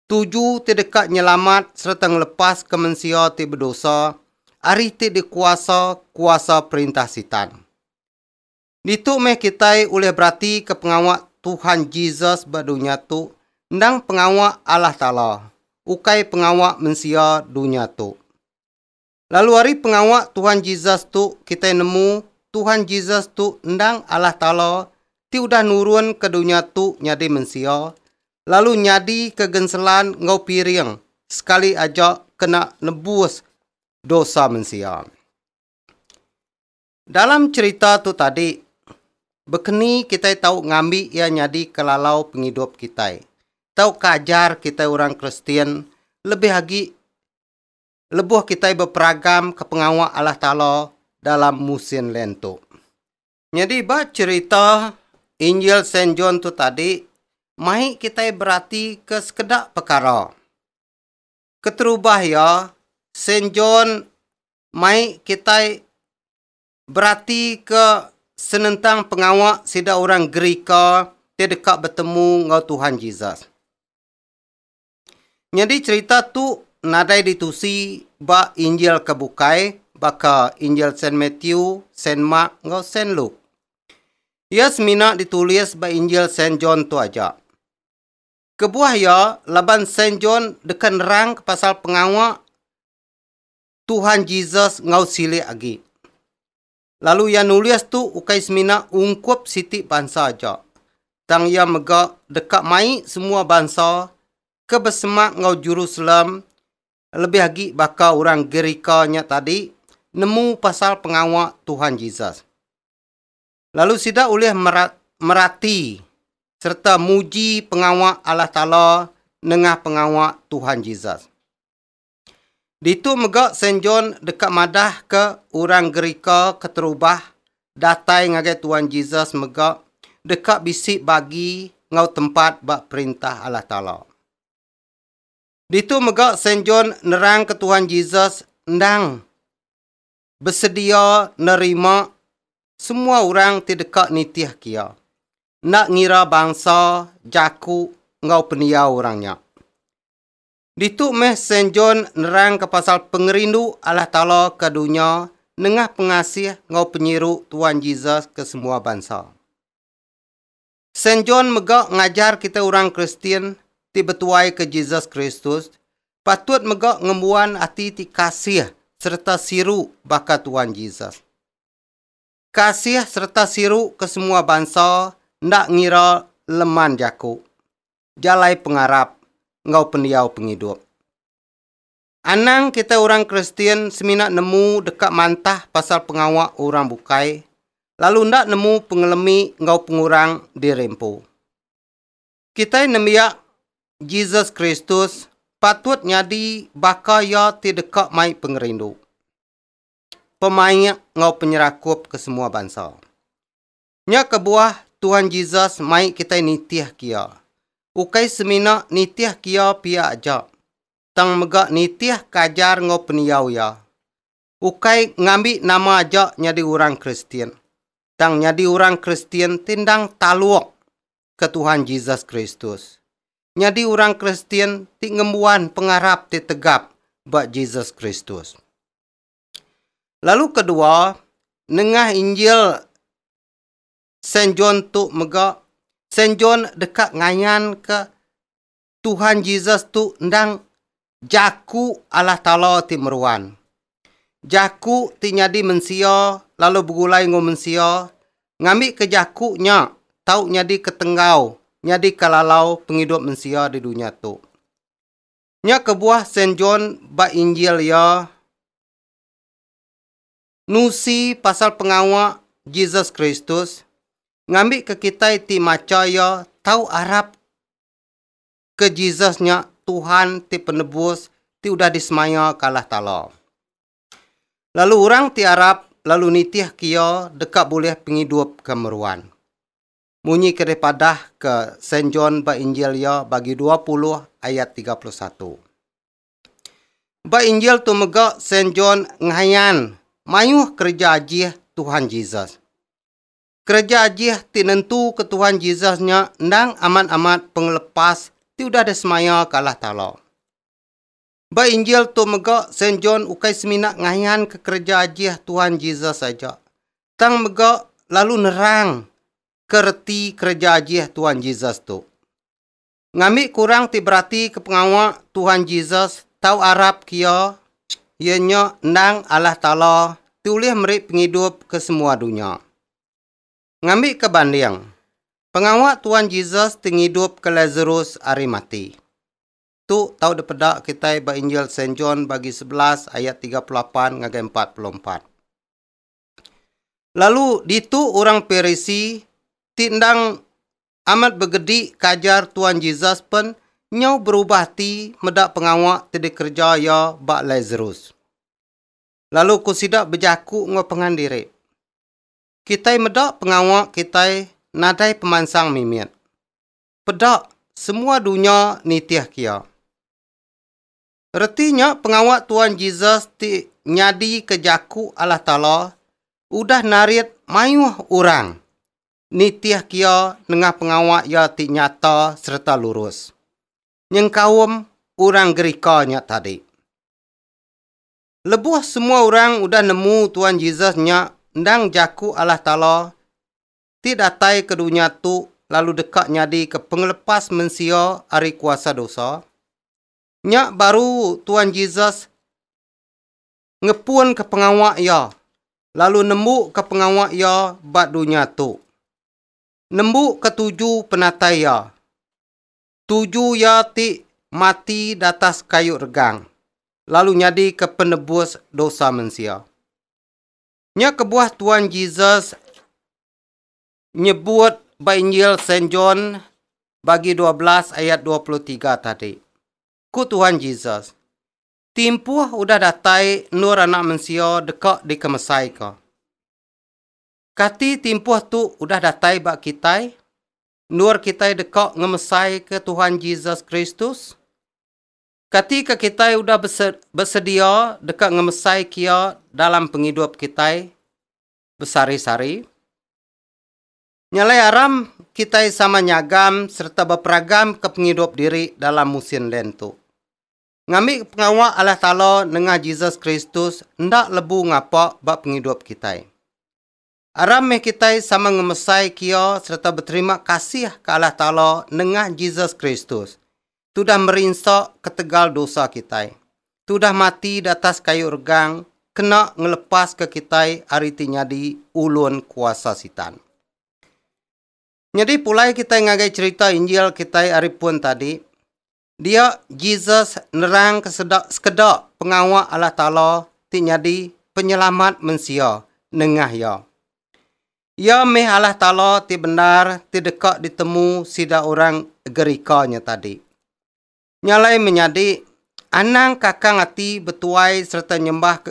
Tuju ti deka nyelamat sereta ngelepaska mensia ti bedosa ari ti dikuasa kuasa perintah Sitan. Ditu meh kitai ulih beratika pengawa Tuhan Jesus ba dunya tu endang pengawa Allah Taala, ukai pengawa mensia dunya tu. Lalu ari pengawa Tuhan Jesus tu kitai nemu Tuhan Jesus tu endang Allah Taala ti udah nurunka dunya tu nyadi mensia lalu nyadika genselan enggau piring sekali aja kena nebus dosa mensia. Dalam cherita tu tadi, bekeni kitai tau ngambi iya nyadi kelalau pengidup kitai tauka ajar kitai orang Kristian lebih agi lebuh kitai beperagamka pengawa Allah Taala dalam musin Lent tu? Nyadi ba cherita Injil Saint John tu tadi, mai kitai beratika sekeda pekara. Keterubah iya, Saint John mai kitai beratika senentang pengawa sida orang Gerika ti deka betemu enggau Tuhan Jesus. Nyadi cherita tu nadai ditusi ba Injil ke bukai baka Injil Saint Matthew, Saint Mark enggau Saint Luke. Iya semina ditulis ba Injil Saint John tu aja. Kebuah iya, laban Saint John deka nerangka pasal pengawa Tuhan Jesus enggau silik agi. Lalu iya nulis tu ukai semina ungkup siti bansa aja, tang iya mega deka mai semua bansa ke besemak enggau Jerusalem lebih agi baka orang Gerika nya tadi nemu pasal pengawa Tuhan Jesus. Lalu sida ulih merati sereta muji pengawa Allah Taala nengah pengawa Tuhan Jesus. Ditu mega Saint John deka madahka orang Gerika keterubah datai ngagai Tuhan Jesus mega deka bisi bagi enggau tempat ba Perintah Allah Taala. Ditu mega Saint John nerangka Tuhan Jesus endang besedia nerima semua orang ti deka nitihka iya, enda ngira bangsa, jaku enggau pendiau orang nya. Ditu meh Saint John nerangka pasal pengerindu Allah Taala ke dunya nengah pengasih enggau penyiru Tuan Jesus ke semua bansa. Saint John mega ngajar kitai orang Kristian ti betuaika Jesus Kristus patut mega ngembuan ati ti kasih sereta siru baka Tuan Jesus. Kasih sereta siru ke semua bansa enda ngira leman jaku, jalai pengarap enggau pendiau pengidup. Anang kitai orang Kristian semina nemu deka mantah pasal pengawa orang bukai lalu enda nemu pengelemi enggau pengurang diri empu. Kitai nembiak Jesus Kristus patut nyadi baka Iya ti deka mai pengerindu, pemaik enggau penyerakup ke semua bansa. Nya kebuah Tuhan Jesus mai kitai nitihka iya, ukai semina nitihka iya pia aja, tang mega nitihka ajar enggau pendiau iya. Ukai ngambi nama aja nyadi orang Kristian, tang nyadi orang Kristian ti endang taluk ke Tuhan Jesus Kristus. Nyadi orang Kristian ti ngembuan pengarap ti tegap ba Jesus Kristus. Lalu kedua, nengah Injil Saint John tu mega, Saint John deka ngayanka Tuhan Jesus tu endang Jaku Allah Taala ti meruan. Jaku ti nyadi mensia lalu begulai enggau mensia, ngambika Jaku nya tau nyadika tenggau, nyadika lalau pengidup mensia di dunya tu. Nya kebuah Saint John ba Injil iya nusi pasal pengawa Jesus Kristus ngambika kitai ti macha iya tau arap ke Jesus nya Tuhan ti penebus ti udah disemaya ke Allah Taala. Lalu orang ti arap lalu nitihka iya deka bulih pengidup ke meruan. Munyi ke dipadahka Saint John ba Injil iya bagi dua puluh ayat tiga puluh satu. Ba Injil tu mega Saint John ngayan mayuh kereja ajih Tuhan Jesus. Kereja ajih ti nentuka Tuhan Jesus nya endang amat-amat pengelepas ti udah disemaya ke Allah Taala. Ba Injil tu mega, Saint John ukai semina ngayanka kereja ajih Tuhan Jesus aja, tang mega lalu nerangka reti kereja ajih Tuhan Jesus tu. Ngambi ke orang ti beratika pengawa Tuhan Jesus tau arapka iya, iya nya endang Allah Taala ti ulih meri pengidup ke semua dunya. Ngambika banding, pengawa Tuhan Jesus ti ngidupka Lasarus ari mati. Tu tau dipeda kitai ba Injil Saint John bagi sebelas ayat tiga puluh lapan ngagai empat puluh empat. Lalu ditu orang Parisi ti endang amat begedi ke ajar Tuan Jesus pen nyau berubah ati meda pengawa ti dikereja iya ba Lazarus. Lalu ku sida bejaku enggau pengan diri, Kitai meda pengawa kitai nadai pemansang mimit. peda semua dunya nitih kia. Reti nya pengawa Tuan Jesus ti nyadika jaku Allah Taala udah narit mayuh orang nitih kia nengah pengawa iya ti nyata sereta lurus nyengkaum orang Gerika nya tadi. Lebuh semua orang udah nemu Tuan Jesus nya endang jaku Allah Taala ti datai ke dunya tu lalu deka nyadika pengelepas mensia ari kuasa dosa? Nya baru Tuan Jesus ngepunka pengawa iya lalu nembuka pengawa iya ba dunya tu. Nembuka tuju penatai iya. Tuju iya ti mati datas kayu regang lalu nyadika penebus dosa mensia. Nya kebuah Tuan Jesus nyebut ba Injil Saint John bagi dua belas ayat dua puluh tiga tadi. Ku Tuhan Jesus, Timpuh udah datai endur Anak Mensia deka dikemesaika. Kati timpuh tu udah datai ba kitai, endur kitai deka ngemesaika Tuhan Jesus Kristus? Kati ke kitai udah besedia deka ngemesaika Iya dalam pengidup kitai besari-sari? Nya alai aram kitai sama nyagam sereta beperagamka pengidup diri dalam musin Lent tu. Ngambika pengawa Allah Taala nengah Jesus Kristus enda lebu ngapa ba pengidup kitai. Aram meh kitai sama ngemesai kio sereta beterima kasih ke Allah Taala nengah Jesus Kristus, ti udah meri ensa ketegal dosa kitai, ti udah mati di atas kayu regang kena ngelepaska kitai ari ti nyadi ulun kuasa Sitan. Nyadi pulai kitai ngagai cherita Injil kitai ari pun tadi, Dia Jesus nerangka sekeda pengawa Allah Taala ti nyadi Penyelamat mensia nengah Iya. Iya meh Allah Taala ti bendar ti deka ditemu sida orang Gerika nya tadi. Nya alai menyadi, anang kakang ati betuai sereta nyembah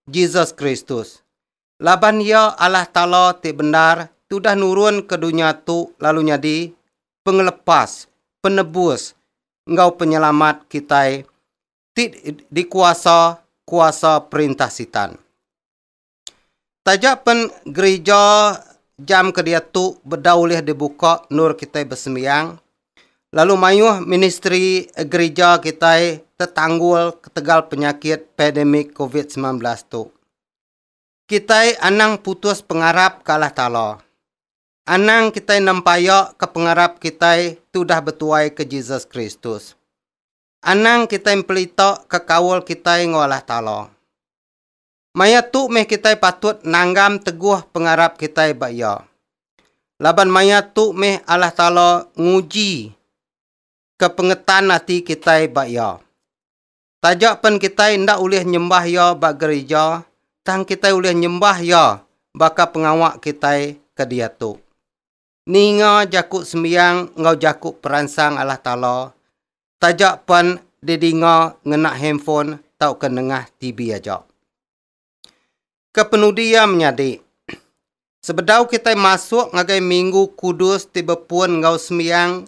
Jesus Kristus. laban Iya Allah Taala ti bendar tudah nurun ke dunya tu lalu nyadi Pengelepas, Penebus, enggau Penyelamat kitai ti dikuasa kuasa perintah Sitan. Taja pen gerija jam ke diatu bedau ulih dibuka endur kitai besembiang, lalu mayuh ministri gerija kitai tetanggul ketegal penyakit pandemik covid sembilan belas tu. Kitai anang putus pengarap ke Allah Taala. Anang kitai nempayaka pengarap kitai ti udah betuaika Jesus Kristus. Anang kitai mpelitaka kaul kitai enggau Allah Taala. Maya tu meh kitai patut nanggam teguh pengarap kitai ba Iya. Laban maya tu meh Allah Taala ngujika pengetan ati kitai ba Iya. Taja pen kitai enda ulih nyembah iya ba gerija, tang kitai ulih nyembah iya baka pengawa kitai ke diatu. Ninga jaku sembiang enggau jaku peransang Allah Taala taja pen didinga ngena handphone tauka nengah TV aja. Kepenudi iya menyadi, sebedau kitai masuk ngagai Minggu Kudus ti bepun enggau sembiang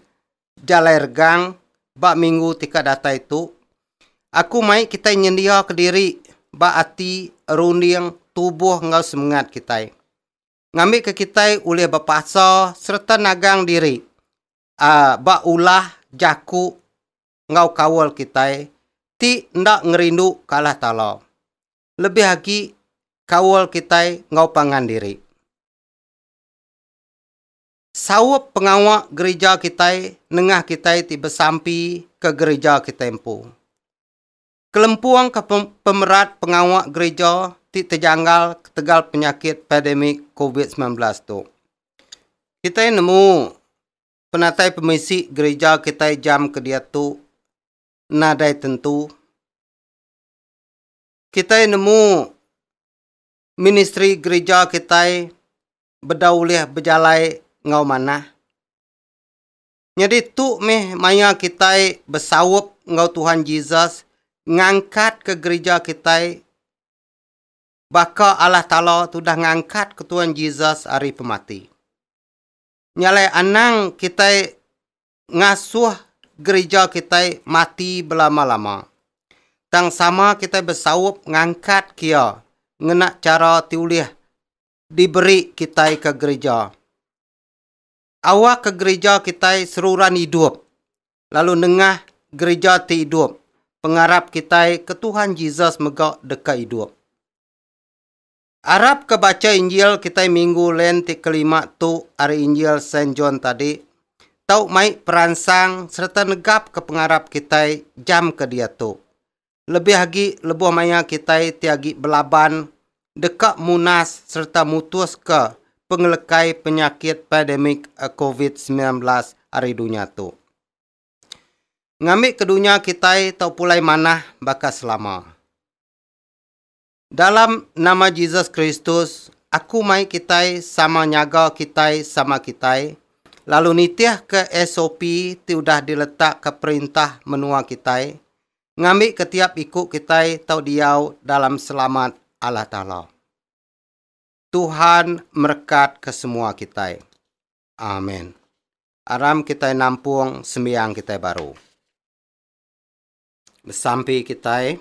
jalai regang ba minggu ti ka datai tu, aku mai kitai nyendiaka diri ba ati, runding, tubuh enggau semengat kitai. Ngambika kitai ulih bepasa sereta nagang diri ba ulah, jaku, enggau kaul kitai ti enda ngerindu ke Allah Taala, lebih agi kaul kitai enggau pangan diri. Saup pengawa gerija kitai nengah kitai ti besampi ke gerija kitai empu. Kelempungka pemerat pengawa gerija ti tejanggal ketegal penyakit pandemik Covid sembilan belas tu. Kitai nemu Penatai pemisi gerija kitai jam ke diatu nadai tentu. Kitai nemu ministri gerija kitai bedau ulih bejalai enggau manah. Nyadi tu mih maya kitai besaup enggau Tuhan Jesus ngangkatka gerija kitai baka Allah Taala tudah ngangkatka Tuhan Jesus ari pemati. Nya alai anang kitai ngasuh gerija kitai mati belama-lama. Tang sama kitai besaup ngangkat ke iya ngena chara ti ulih diberi kitai ke gerija. Awakka gerija kitai seruran idup lalu nengah gerija ti idup pengarap kitai ke Tuhan Jesus mega deka idup. Arap ke bacha Injil kitai minggu Lent ti kelima tu ari Injil Saint John tadi, tau mai peransang sereta negapka pengarap kitai jam ke diatu. Lebih agi lebuh maya kitai ti agi belaban deka munas sereta mutuska pengelekai penyakit pandemik Covid semilan belas ari dunya tu. Ngambika dunya kitai tau pulai manah baka selama. Dalam nama Jesus Kristus, aku mai kitai sama nyaga kitai sama kitai, lalu nitihka SOP ti udah diletakka perintah menua kitai, ngambika tiap iku kitai tau diau dalam selamat Allah Taala. Tuhan merekatka semua kitai. Amen. Aram kitai nampung sembiang kitai baru. Besampi kitai.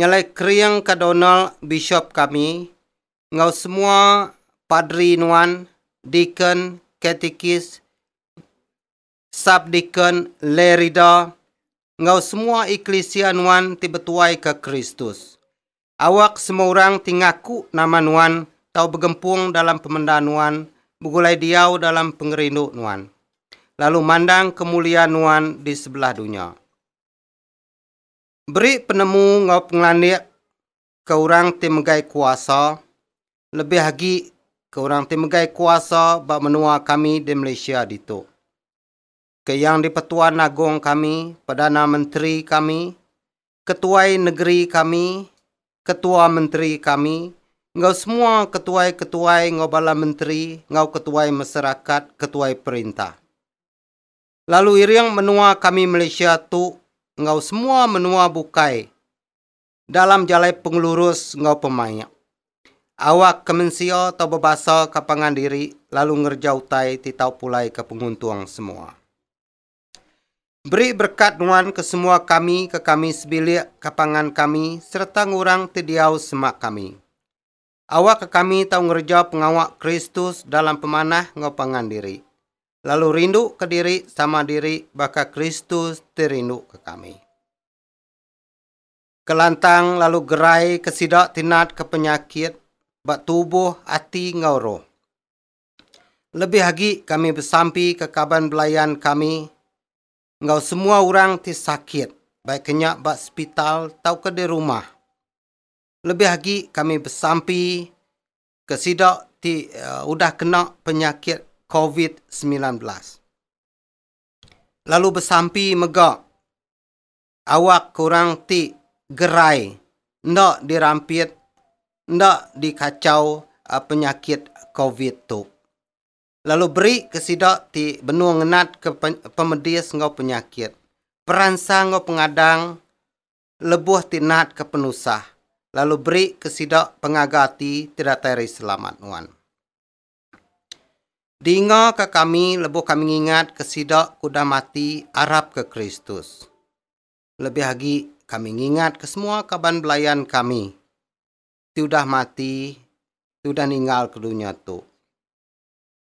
Nyalai kering ka Donald bishop kami enggau semua padri nuan, deacon, katikis, sub deacon, lay reader enggau semua eklisia nuan ti betuai ke Kristus. Awak semua orang ti ngaku nama nuan tau begempung dalam pemenda nuan begulai diau dalam pengerindu nuan lalu mandang kemulia nuan di sebelah dunya. Beri penemu enggau pengelandik ke orang ti megai kuasa, lebih agi ke orang ti megai kuasa ba menua kami di Malaysia ditu. Ke Yang di-Pertuan Agong kami, Perdana Menteri kami, Ketuai Negeri kami, Ketua Menteri kami enggau semua ketuai-ketuai enggau bala menteri enggau ketuai masarakat, ketuai perintah. lalu iring menua kami Malaysia tu enggau semua menua bukai dalam jalai pengelurus enggau pemaik. Awak ke mensia tau bebasa ka pangan diri lalu ngereja utai ti tau pulai ka penguntung semua. Beri berkat nuan ke semua kami ke kami sebilik ka pangan kami sereta ngurang ti diau semak kami. Awakka kami tau ngereja pengawa Kristus dalam pemanah enggau pangan diri, lalu rinduka diri sama diri baka Kristus ti rinduka kami. Kelantang lalu geraika sida ti natka penyakit ba tubuh, ati, enggau roh. Lebih agi kami besampika kaban belayan kami enggau semua orang ti sakit, baik ke nya ba sepital tauka di rumah. Lebih agi kami besampi ke sida ti udah kena penyakit covid semilan belas lalu besampi mega awak orang ti gerai enda dirampit enda dikachau penyakit covid tu lalu beri ke sida ti benung ngenat ke pemedis enggau penyakit peransang enggau pengadang lebuh ti natka penusah, lalu berika sida pengaga ati ti datai ari Selamat nuan. Dingaka kami lebuh kami ngingatka sida ke udah mati arapka Kristus. Lebih agi, kami ngingatka semua kaban belayan kami ti udah mati, ti udah ninggalka dunya tu.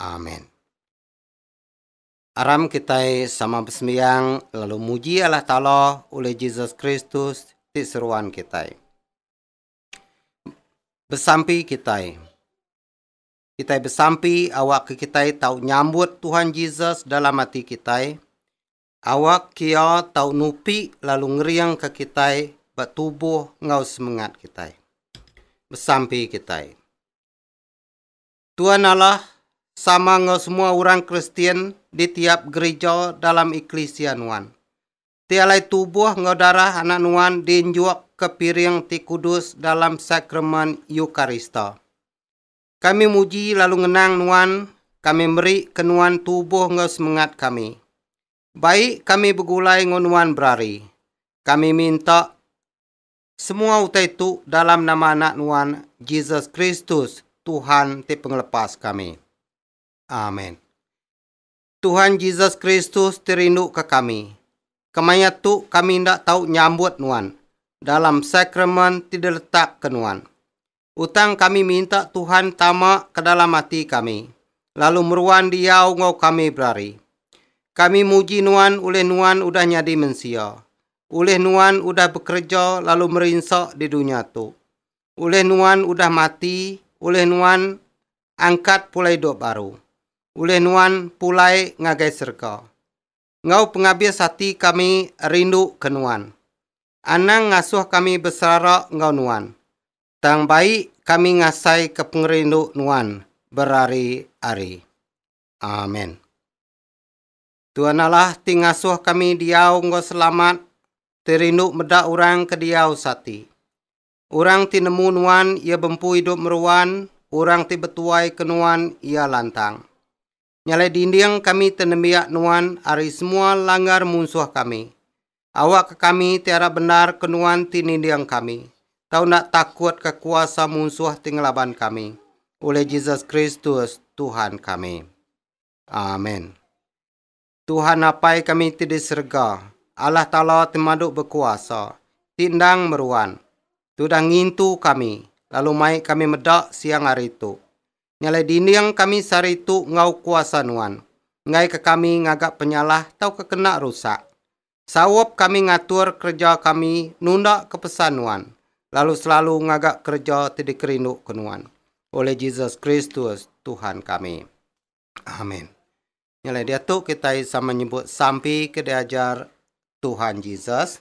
Amen. Aram kitai sama besembiang lalu muji Allah Taala ulih Jesus Kristus ti seruan kitai. Besampi kitai. Kitai besampi awakka kitai tau nyambut Tuhan Jesus dalam ati kitai. Awak kia tau nupi lalu ngeringka kitai ba tubuh enggau semengat kitai. Besampi kitai. Tuan Allah sama enggau semua orang Kristian di tiap gerija dalam eklisia nuan. Ti alai tubuh enggau darah anak nuan dienjuk ke piring ti kudus dalam sakramen Eukarista. Kami muji lalu ngenang nuan, kami meri ke nuan tubuh enggau semengat kami. Baik kami begulai enggau nuan berari. Kami minta Semua utai tu dalam nama Anak Nuan, Jesus Kristus, Tuhan ti Pengelepas kami. Amen. Tuhan Jesus Kristus ti rinduka kami. Kemaya tu kami enda tau nyambut Nuan dalam sakramen ti diletakka Nuan. Utang kami minta Tuhan tama kedalam ati kami, lalu meruan diau enggau kami berari. Kami muji Nuan ulih Nuan udah nyadi mensia, ulih Nuan udah bekereja lalu merinsa di dunya tu, ulih Nuan udah mati, ulih Nuan angkat pulai idup baru, ulih Nuan pulai ngagai serega. enggau pengabis ati kami rindu ke Nuan. Anang ngasuh kami beserara enggau Nuan, tang bai kami ngasai ke pengerindu Nuan berari-ari. Amen. Tuan Allah ti ngasuh kami diau enggau selamat, ti rindu meda orang ke diau sati. Orang ti nemu Nuan iya bempu idup meruan, orang ti betuai ke Nuan iya lantang. Nyalai dinding kami te nembiak Nuan ari semua langgar munsuh kami. Awakka kami ti arap bendar ke Nuan ti ninding kami, tau enda takutka kuasa munsuh ti ngelaban kami, ulih Jesus Kristus, Tuhan kami. Amen. Tuhan Apai kami ti di serega, Allah Taala ti madu bekuasa, ti endang meruan, tudah ngintu kami, lalu mai kami meda siang hari tu. Ngalai dinding kami sehari tu enggau kuasa Nuan. Enggaika kami ngaga penyalah tauka kena rusak. Saup kami ngatur kereja kami nundaka pesan Nuan, lalu selalu ngaga kereja ti dikerinduka Nuan. Olih Jesus Kristus, Tuhan kami. Amen. Ngalai diatu kitai sama nyebut sampi ke diajar Tuhan Jesus.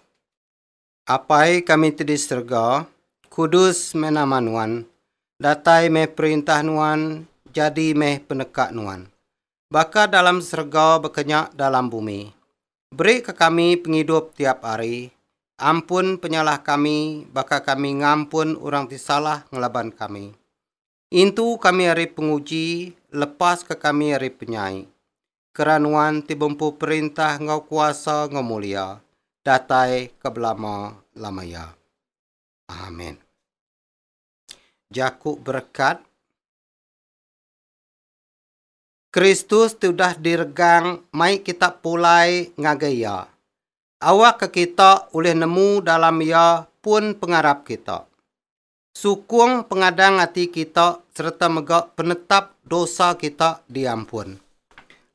Apai kami ti di serega, kudus meh nama Nuan, datai meh perintah Nuan, jadi meh peneka Nuan. Baka dalam serega baka nya dalam bumi. Beri ka kami pengidup tiap ari, ampun penyalah kami baka kami ngampun orang ti salah ngelaban kami. Intu kami ari penguji, lepaska kami ari penyai. Kera Nuan ti bempu perintah enggau kuasa enggau mulia, datai ke belama-lama iya. Amin. Jaku berekat Kristus ti udah diregang mai kita pulai ngagai Iya. Awakka kita ulih nemu dalam Iya pun pengarap kita. sukung pengadang ati kita sereta mega penetap dosa kita diampun.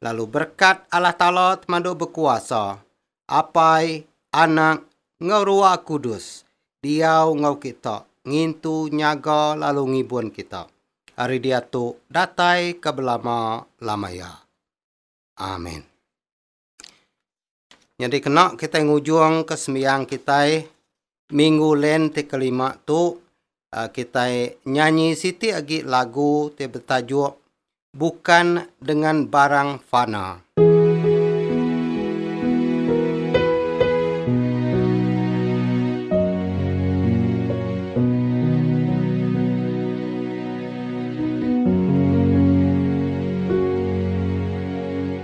Lalu berekat Allah Taala Temadu Bekuasa, Apai, Anak, enggau Ruah Kudus diau enggau kita ngintu nyaga lalu ngibun kita ari diatu datai ke belama-lama iya. Amin. Nyadi kena kitai ngujungka sembiang kitai Minggu Lent ti kelima tu um kitai nyanyi siti agi lagu ti betajuk Bukan Dengan Barang Fana.